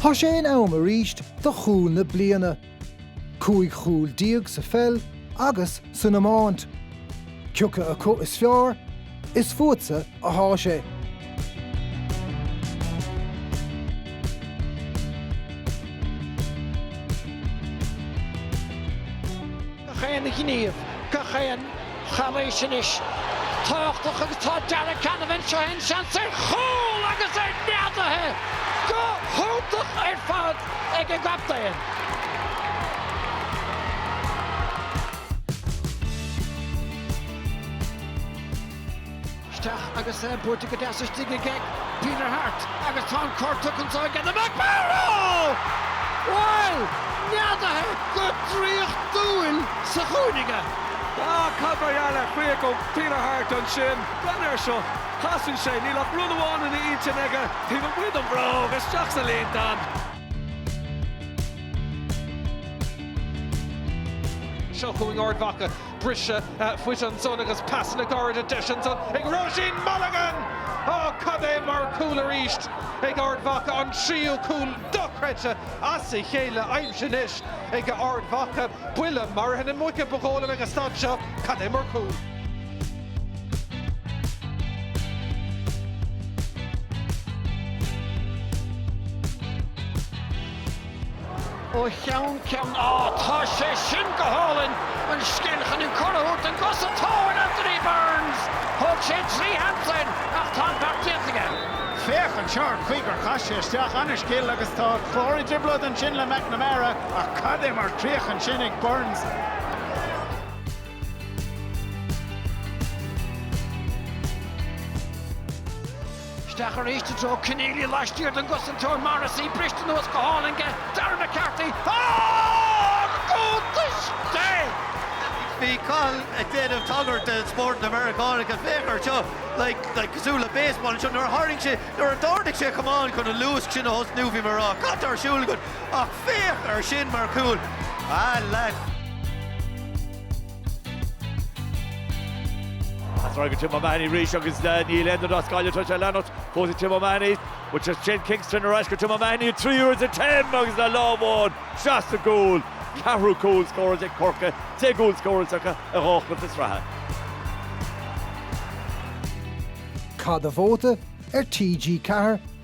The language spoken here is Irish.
Tá sé in am arís do chúl na bliana. Cúig chúl déag sa pheil agus san iomáint. Cioca acu is fearr, is fútsa athá sé. gach aon ghníomh, gach aon chalaois anois tábhachtach agus tá Darragh Canavan seo é an seans ar chúl agus é neadaithe go hiontach ar fad ag an gcaptaen. isteach agus é buailte go deas istigh ag Peter Harte agus tá an cor tugtha anseo aige do McMorrow! Bhuel, neadaithe go draíochtúil sa chúinne. Á, cad mar gheall ar chríoch ó Peter Harte ansin? Breathnaigh air seo, casann sé, níl ach rud amháin ina intinn aige, taobh amuigh den bhróg, isteach sa líontán! Seo chugainn Ard Mhacha Briseadh fuid ansan agus pasanna gairide deis ansan ag Róisín Mulligan! Á, cad é mar chúl arís ag Ard Mhacha, an tríú cúl dochreidte as a chéile aimsithe anois ag Ard Mhacha. Buille maraithe na muice ba dhóigh liom ag an staid seo, cad é mar chúl! ó cheann ceann. Á, tá sé sin go hálainn! An scil chun an cor a thabhairt don gcosantóir, Anthony Burns! Thóg sé trí shamplainn ach tá an beart déanta aige. Féach anseo ar chaoi gur chas sé isteach an-scil agus tá an Clár i dtrioblóid ansin le McNamara ach cad é mar chríoch ansin ag Burns! Isteach arís i dtreo Kenneally laistiar den gcosantóir Morrissey, briste anuas go hálainn aige Darragh McCarthy ach cúltaisce! Bhí Cathal ag déanamh tagairt do spórt na Meiriceánacha, féach air seo, like, cosúil le baseball anseo, nuair a tharraing sé, nuair a d'ardaigh sé a chamán chun an luasc sin a thosnú, bhí mé ag rá, cad atá ar siúl agat? Ach féach air sin mar chúl, a lad! ar ais go Tim O'Mahony arís agus níl aon rud as Gaillimh atá sé leanacht fós ag Tim O'Mahony. Bhuel Shane Kingston ar ais go Tim O'Mahony, a tríú agus a Tim agus le lámh amháin sa gcúl, ceathrú cúl scóráilte ag Corcaigh, 10 gcúl scóráilte acu i dhá chluiche sraithe. Caith do vóta ar TG4.